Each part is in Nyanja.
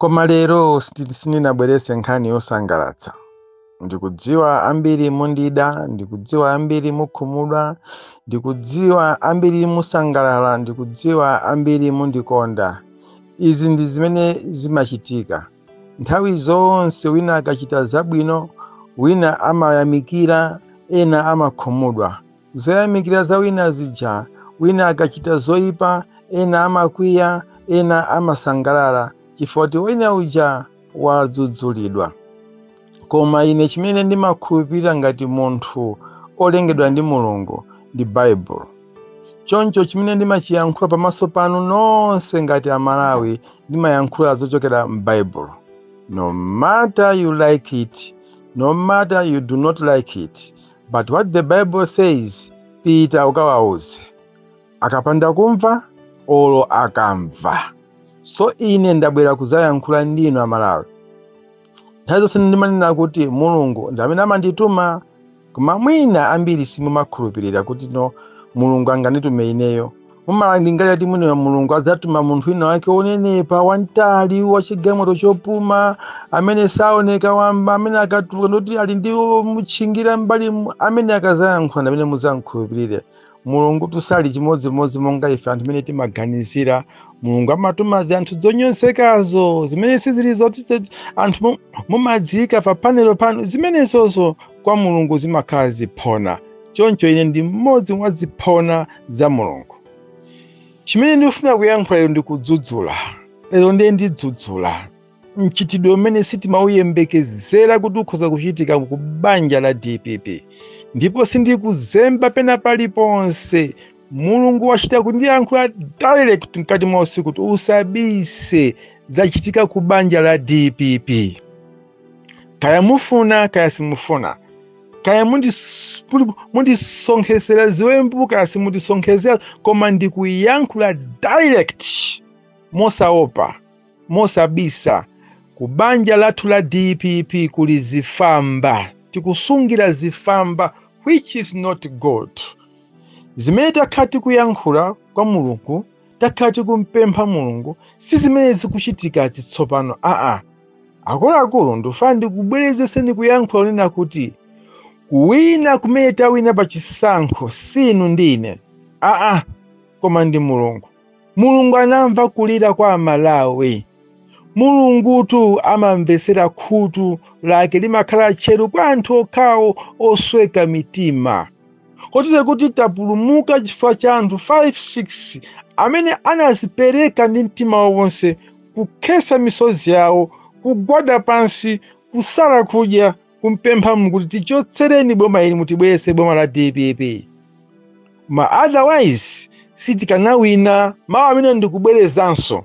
Koma lero sindi- sindinabwerese nkhani yosangalatsa. Ndikudziwa ambiri mundida, ndikudziwa ambiri mukhumudwa, ndikudziwa ambiri musangalala, ndikudziwa ambiri mundikonda. Izi ndi zimene zimachitika. Nthawi zonse wina akachita zabwino, wina amayamikira, ena amakhumudwa. Zoyamikira za wina zija, wina akachita zoipa, ena amakwiya, ena amasangalala chifukwa choti wina uja wadzudzulidwa. Koma ine chimene ndimakhulupirira ngati munthu olengedwa ndi Mulungu ndi Baibulo. Choncho chimene ndimachiyankhula pamaso panu nonse ngati Amalawi ndimayankhula zochokera m'Baibulo. No matter you like it, no matter you do not like it, but what the bible says pita ukawauze akapanda kumva olo akamva so ine ndabwera kudzayankhula ndinu amalawi nthawi zonse ndimanena kuti mulungu ndi amene amandituma koma mwina ambiri simumakhulupirira kuti no mulungu anganditume ineyo mumalingalira kuti mwina mulungu adzatuma munthu wina wake wonenepa wamtali wachigamulo chopuma amene saoneka wamba amene akatuluka ndoti ali ndi mutchingira mbali mu- amene akazayankhula ndamene mudzamkhulupirire mulungu tu sali chimodzimodzi monga ife anthu mmene timaganizira mulungu amatuma zinthu zonyozekazo zimene sizili zoti zoti anthu mu- mumadziyika pa panelopo panu zimenezozo kwa mulungu zimakhala ziphona choncho ine ndi mmodzi mwa ziphona za mulungu chimene ndikufuna kuyankhula lero ndi kudzudzula lero ndiye ndidzudzula mchitidwe umene sitimauyembekezera kuti ukhoza kuchitika ku banja la dpp ndipo sindikuzemba pena paliponse mulungu wachita kundiyankhula direct mkati mwa usiku kuti usabise zachitika ku banja la dpp kaya mufuna kaya simufuna kaya mundis- muli- mundisonkhezera ziwembu kaya simundisonkhezera koma ndikuyankhula direct mosaopa mosabisa ku banja lathu la dpp kuli zifamba tikusungira zifamba which is not good zimene takhala tikuyankhula kwa mulungu takhala tikumpempha mulungu si zimene zikuchitika zitsopano aa Akuluakulu ndifuna ndikubwerezereni kuyankhula onena kuti kuwina kumene tawina pa chisankho si inu ndi ine aa, koma ndi Mulungu. Mulungu anamva kulira kwa Amalawi. Mulungutu amamvetsera, khutu lake limakhala tcheru kwa anthu okhawo osweka mitima. kotero kuti tapulumuka chifukwa cha anthu 5-6 amene anazipereka ndi mtima wawo wonse kukhesa misozi yawo kugwada pansi kusala kudya kumpempha Mulungu kuti tichotsereni boma ili mutibweretse boma la dpp ma otherwise sitikanawina mawu amene ndikubwerezanso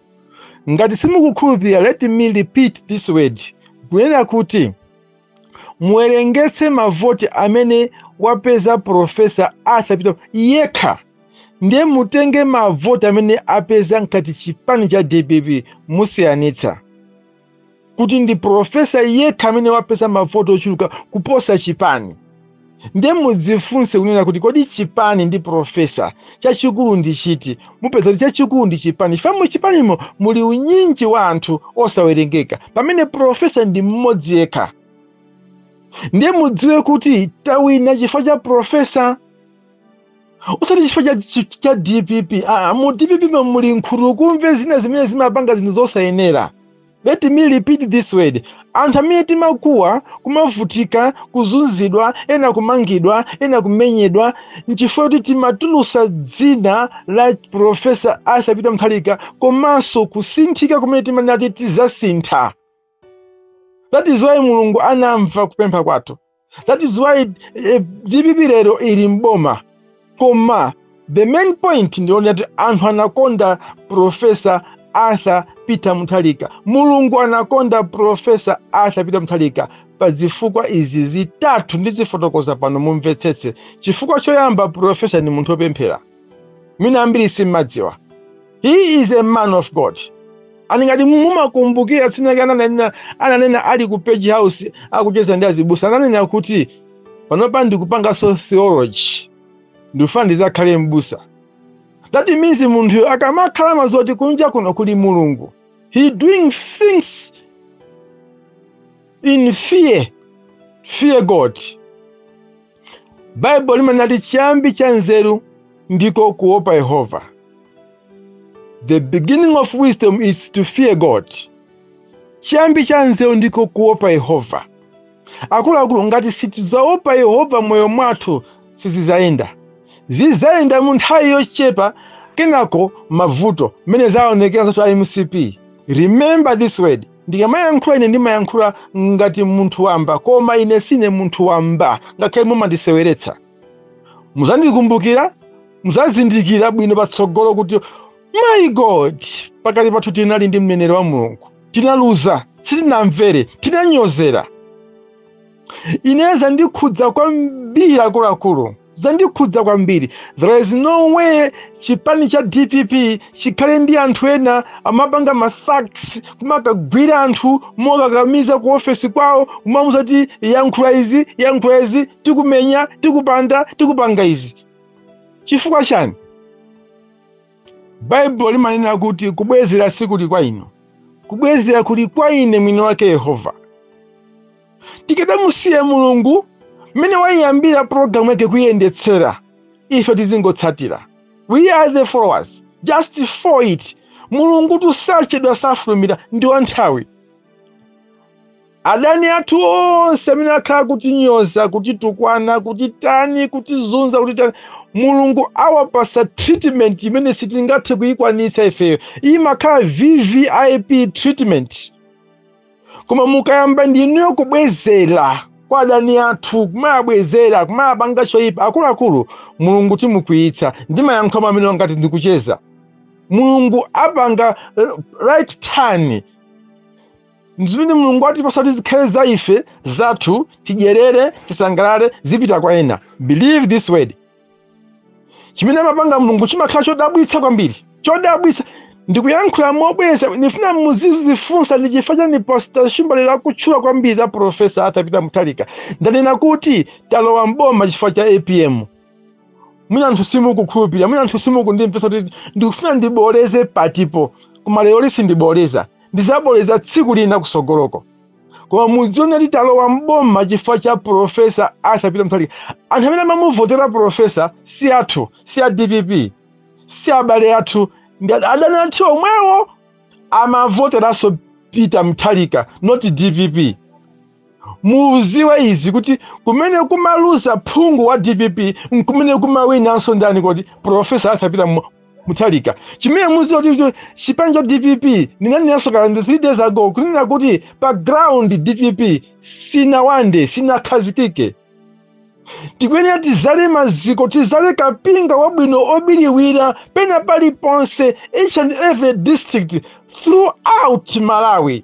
ngati simukukhulupirira let me repeat this word kunena kuti muwerengetse mavoti amene wapeza profesa arthur peter yekha ndiye mutenge mavoti amene apeza ngati chipani cha dpp musiyanitsa kuti ndi profesa yekha amene wapeza mavoti ochuluka kuposa chipani nde mudzifunse kunena kuti kodi chipani ndi profesa chachikulu ndi chiti mupeza kuti chachikulu ndi chipani chifukwa mu chipanimo muli unyinji wa anthu osawerengeka pamene profesa ndi mmodzi yekha ndiye mudziwe kuti tawina chifukwa cha profesa usati chifukwa cha dpp aa mu dpp mo muli nkhutukumve zina zimene zimapanga zinthu zosayenera Let me repeat this word. Anthu amene timakuwa, kumavutika, kuzunzidwa, ena kumangidwa, ena kumenyedwa, nchifukwa choti timatulusa dzina la Profesa Arthur Peter Mutharika komanso kusinthika kumene timanati tizasintha. That is why Mulungu anamva kupempha kwathu. that is why eh, dpp lero ili mboma koma the main point ndi yonena kuti anthu anakonda profesa arthur peter muthalika mulungu anakonda profesa arthur peter muthalika pa zifukwa izi zitatu ndizifotokoza pano mumvetsetse chifukwa choyamba profesa ni munthu opemphera mwina ambiri simmadziwa He is a man of God. And ngati mumakumbukira tsiku lake ananena ananena ali ku page house akucheza ndi azibusa ananena kuti panopa ndikupanganso theology ndifuna ndizakhale mbusa. That means munthu akamakhala amadziwa zoti kunja kuno kuli Mulungu. He doing things in fear. Fear God. baibulo limanati chiyambi cha nzeru ndiko kuopa yehova the beginning of wisdom is to fear god chiyambi cha nzeru ndiko kuopa yehova akuluakulu ngati sitidzaopa yehova moyo mwathu sizizayenda zizayenda mu nthawi yochepa kenako mavuto mmene zaonekera anzathu a mcp remember this word ndikamayankhula ine ndimayankhula ngati munthu wamba koma ine sine munthu wamba ngakhale mumandiseweretsa muzandikumbukira muzazindikira bwino patsogolo kuti my god pakati pathu tinali ndi mneneri wa mulungu tinaluza sitinamvere tinanyozera ineyo zandikhudza kwambiri akuluakulu zandikhudza kwambiri there is no way chipani cha dpp chikhale ndi anthu ena amapanga mathugs kumakagwira anthu mokakamiza ku ofesi kwawo kumamuza kuti yankhula izi yankhula izi tikumenya tikupanda tikupanga izi chifukwa chani baibulo limanena kuti kubwezera sikuli kwa inu kubwezera kuli kwa ine mwini wake yehova tikadamusiye mulungu mmene waiyambira pulogalamu yake kuiyendetsera ife tizingotsatira we are the followers just for it mulungu tu sachedwa safulumira ndi wanthawi adani athu onse amene akhala kutinyoza kutitukwana kutitani kutizunza kutitani mulungu awapasa treatment imene sitingathe kuyikwanitsa ifeyo imakhala vvip treatment koma mukayamba ndinuyo kubwezera kwa adani athu kumawabwezera kumawapanga choyipa akuluakulu mulungu timukwiyitsa ndimayankhula mwamene ngati ndikucheza mulungu apanga right turn zimene mulungu atipasa kuti zikhale za ife zathu tidyerere tisangalale zipita kwa ena believe this word chimene amapanga mulungu chimakhala chodabwitsa kwambiri chodabwitsa ndikuyankhula mobweza ndifuna muzizifunsa ndi chifukwa chani pastor shimbalira akutchula kwambiri za profesa arthur peter mutharika ndanena kuti talowa mboma chifukwa cha apm mwina anthu simukukhulupirira mwina anthu simukundimvetsa kuti ndikufuna ndiboleze patipo koma lero sindiboleza ndizaboleza tsiku lina kusogoloko koma mudziwe kuti talowa mboma chifukwa cha profesa arthur peter mutharika anthu amene amamuvotera profesa si athu si a dpp si abale athu ndi adani athu omwewo amavoteranso peter mutharika not dpp muziwe izi kuti kumene kumaluza phungu wa dpp nkumene kumawinanso ndani kodi profesa arthur peter muthalika chimene muziwe kuti chipani cha dpp ndinanenanso kaya ndi 3 days ago kunena kuti pa ground dpp sinawande sinakhazikike tikuyenera tizale maziko tizale kapinga wabwino obiliwira pena paliponse each and every district throughout malawi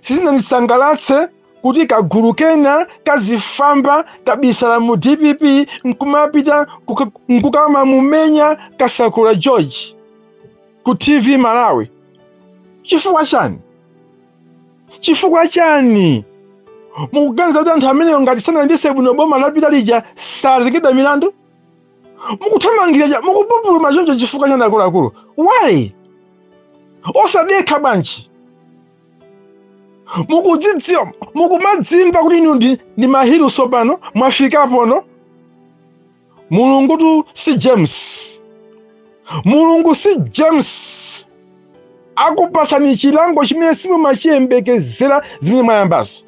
sizinandisangalatse kuti kagulu kena kazifamba kabisala mu dpp nkumapita nkukamamumenya kasakula george ku tv malawi chifukwa chani chifukwa chani mukuganiza kuti anthu amenewo ngati sanayendetse bwino boma lapita lija sazengedwa milandu mukuthamangira cha- mukupupuluma choncho chifukwa chani akuluakulu why osadekha bwanji mukudzidziwa mukumadzimva kuti inu ndi, ndi mahilu sopano mwafikapono mulungu tu si james mulungu si james akupasani chilango chimene simumachiyembekezera zimene mwayambazo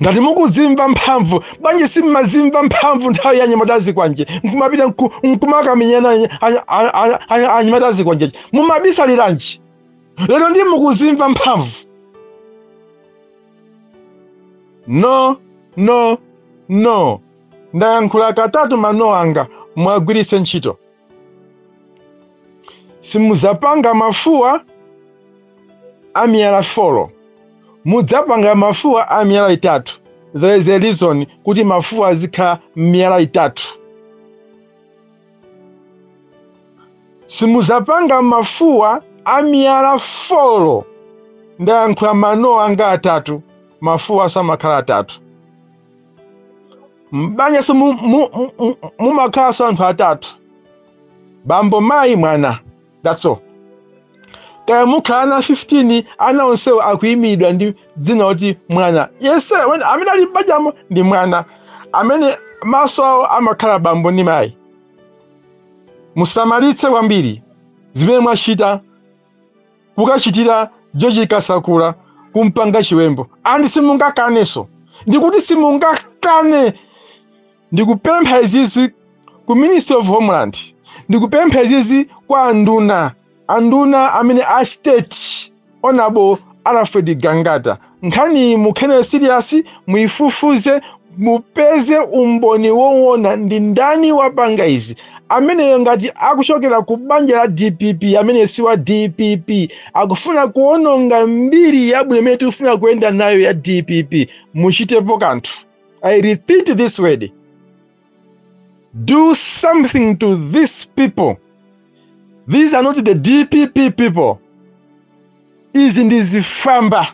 ngati mukuzimva mphamvu bwanji simumazimva mphamvu nthawi ya anyamata azikwanje nkumapita nku- nkumakamenyana any- any- any- any- anyamata azikwanje mumabisaliranji lero ndi mukuzimva mphamvu no no no ndayankhula katatu mano anga muwagwiritse ntchito simudzapanga mafuwa a miyala folo mudzapanga mafuwa a miyala itatu there is a reason kuti mafuwa azikhala miyala itatu simudzapanga mafuwa a miyala folo ndayankhula mano anga atatu mafuwa samakhala atatu m'banjanso mu- mu- mu- mu- mumakhalanso anthu atatu bambo mayi mwana that's all kaya mukhala ana 15 ana onsewo akuyimiridwa ndi dzina loti mwana yense amene- amene ali m'banjamo ndi mwana amene maso awo amakhala bambo ndi mayi musamalitse kwambiri zimene mwachita kukachitira George Kasakula kumpanga chiwembu and simungakanenso ndikuti simungakane ndikupempha izizi ku ministry of homeland ndikupempha izizi kwa anduna anduna amene a state honorable alfred gangata Nkhaniyi mukhale nayo serious, muifufuze mupeze umboni wowona ndi ndani wapanga izi. Ameneyo ngati akuchokera ku banja la dpp ameneyo si wa dpp akufuna kuononga mbiri yabwino imene tikufuna kuyenda nayo ya dpp. Muchitepo kanthu. I repeat this word. Do something to these people. These are not the DPP people. Izi ndi zifamba.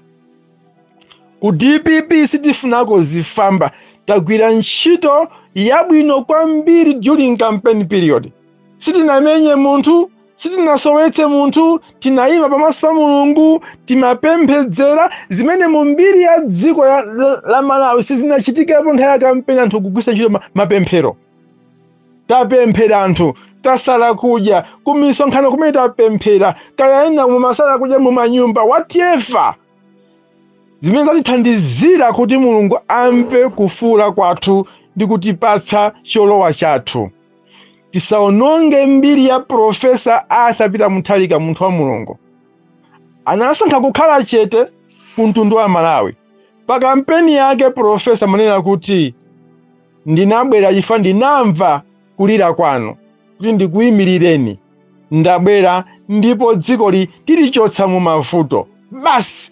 Ku DPP sitifunako zifamba. Tagwira ntchito yabwino kwambiri during campaign period. Sitinamenye munthu, sitinasowetse munthu tinayima pamaso pa mulungu timapemphedzera zimene mu mbiri ya dziko ya- la- la malawi sizinachitikepo nthawi ya kampeni anthu kugwisa ntchito ma- mapemphero tapemphera anthu tasala kudya kumisonkhano kumene tapemphera kayayenda mumasala kudya mumanyumba whatever zimene zatithandizira kuti mulungu amve kufuula kwathu ndi kutipatsa cholowa chathu tisaononge mbiri ya profesa arthur peter mutharika munthu wa mulungu anasankha kukhala chete ku mtundu wa malawi pa kampeni yake profesa amanena kuti ndinabwera chifukwa ndinamva kulira kwanu kuti ndikuyimirireni ndabwera ndipo dzikoli tilichotsa mu mavuto basi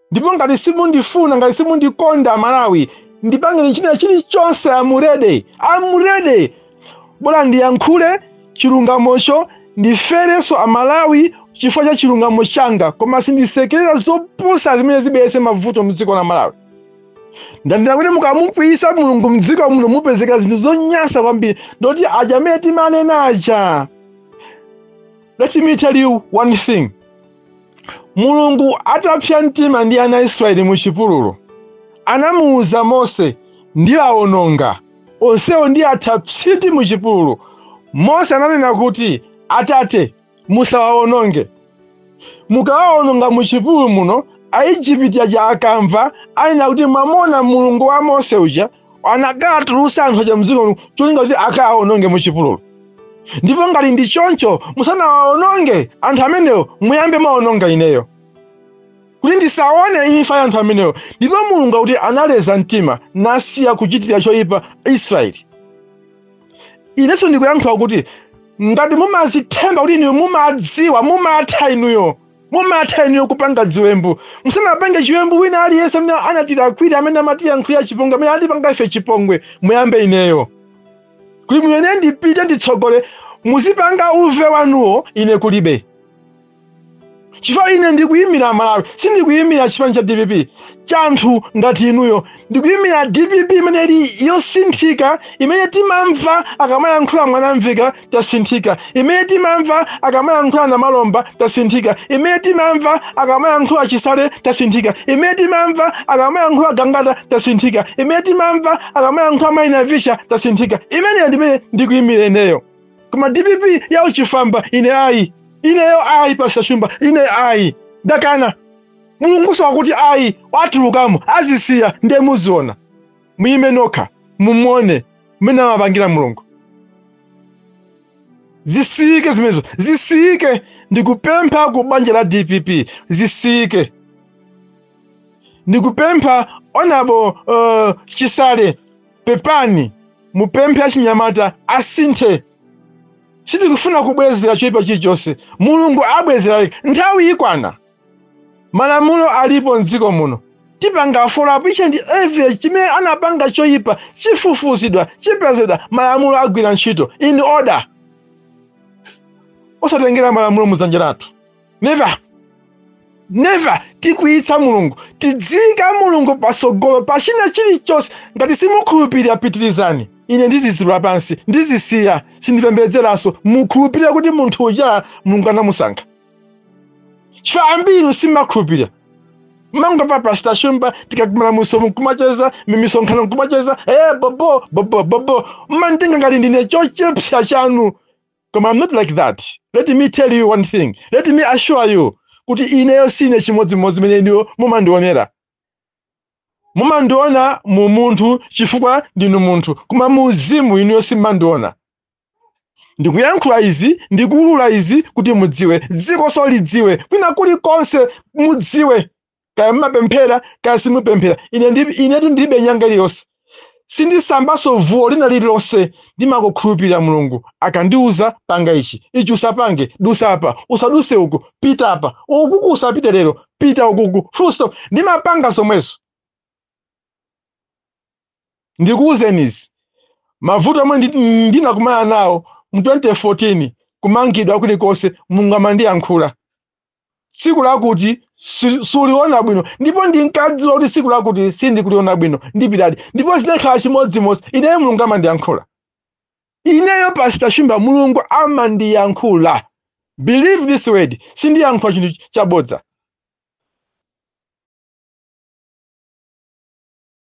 ndipo ngati simundifuna ngati simundikonda amalawi ndipangeni china chilichonse amurede amurede bola ndiyankhule chilungamocho ndiferenso amalawi chifukwa cha chilungamo changa koma sindisekerera zopusa zimene zibweretse mavuto mdziko la malawi ndanena kuti mukamukwiyitsa mulungu mdziko muno mupezeka zinthu zonyansa kwambiri ndoti aja amene timanena aja let me tell you one thing Mulungu atapsa mtima ndi ana a Israeli mu chipululu, anamuwuza Mose, ndiawononga onsewo ndiwatha psiti mu chipululu. Mose ananena kuti, Atate, musawawononge. Mukawawononga mu chipululu muno, Aejipiti aja akamva, anena kuti, mwamona Mulungu wa Mose uja anakatulutsa anthu aja mdziko muno cholinga kuti akawaononge mu chipululu ndipo ngati ndi choncho musanawaononge anthu amenewo muyambe mwaononga ineyo kuti ndisaone imfa ya anthu amenewo ndipo mulungu akuti analeza mtima nasiya kuchitira choyipa israeli inenso ndikuyankhula kuti ngati mumazithemba kuti inuyo mumadziwa mumatha inuyo Mumatha inuyo kupanga ziwembu. Musanapange chiwembu wina aliyense amene anatilakwira, amene amatiyankhulira chipongwe, amene atipanga ife chipongwe, muyambe ineyo. Kuti mwina ine ndipite nditsogole, muzipanga uve wanuwo, ine kulibe. Chifukwa ine ndikuyimira Malawi, sindikuyimira chipani cha dpp cha anthu ngati inuyo. Ndikuyimira dpp imene ili yosinthika, imene timamva akamayankhula mwanamveka tasinthika imene timamva akamayankhula namalomba tasinthika imene timamva akamayankhula chisale tasinthika imene timamva akamayankhula gangata tasinthika imene timamva akamayankhula mai navicha tasinthika imeneyo ndimene ndikuyimira ineyo koma dpp ya uchifamba ine ayi ineyo ayi pastor shumba ine ayi dakana mulungunso wakuti ayi watulukamo azisiya ndiye muziona muyime nokha muone mmene amapangira mulungu zisiyike zimenezo zisiyike ndikupempha ku banja la dpp zisiyike ndikupempha onabo uh, chisale pepani mupemphe achinyamata asinthe sitikufuna kubwezera choyipa chilichonse mulungu abwezera nthawi ikwana malamulo alipo mdziko muno tipanga follow up each and every chimene anapanga choyipa chifufuzidwa chipezedwa malamulo agwira ntchito in order osatengera malamulo mudzanja lathu never never tikwiyitsa mulungu tidziyika mulungu patsogolo pa china chilichonse ngati simukhulupirira pitirizani ine ndizitula pansi ndizisiya sindipembedzeranso mukhulupirira kuti munthu uja mulungu anamusankha chifukwa ambiri simakhulupirira mangova pasita shumba tikakumana mu zoom nkumacheza mimisonkhano nkumacheza eh bobo bobo bobo mmantenga ngati ndine chochepsa chanu koma i'm not like that let me tell you one thing let me assure you kuti ineyo sine chimodzimodzi mene inuyo mumandionera mumandiona mu munthu chifukwa ndinu munthu koma mu uzimu inuyo simandiona ndikuyankhula izi ndikuulula izi kuti mudziwe dzikonso lidziwe kwina kulikonse mudziwe kaya mumapemphera kaya simupemphera ine ndi- inetu ndilibe nyanga iliyonse sindisambanso zuwo lina lililonse ndimangokhulupirira mulungu akandiuza panga ichi ichi usapange dusa apa usaduse uku pita apa ukuku usapite lero pita ukuku full stop ndimapanga zomwezo ndikuwuzeni izi mavuto omwe ndi- ndinakumana nawo mu 2014 kumangidwa kulikonse mulungu amandiyankhula tsiku lakuti si- suliona bwino ndipo ndinkadziwa kuti tsiku lakuti sindikuliona bwino ndipitadi ndipo zinakhala chimodzimodzi ineyo mulungu amandiyankhula ineyo pasita shumba mulungu amandiyankhula believe this word sindiyankhula chinthu chabodza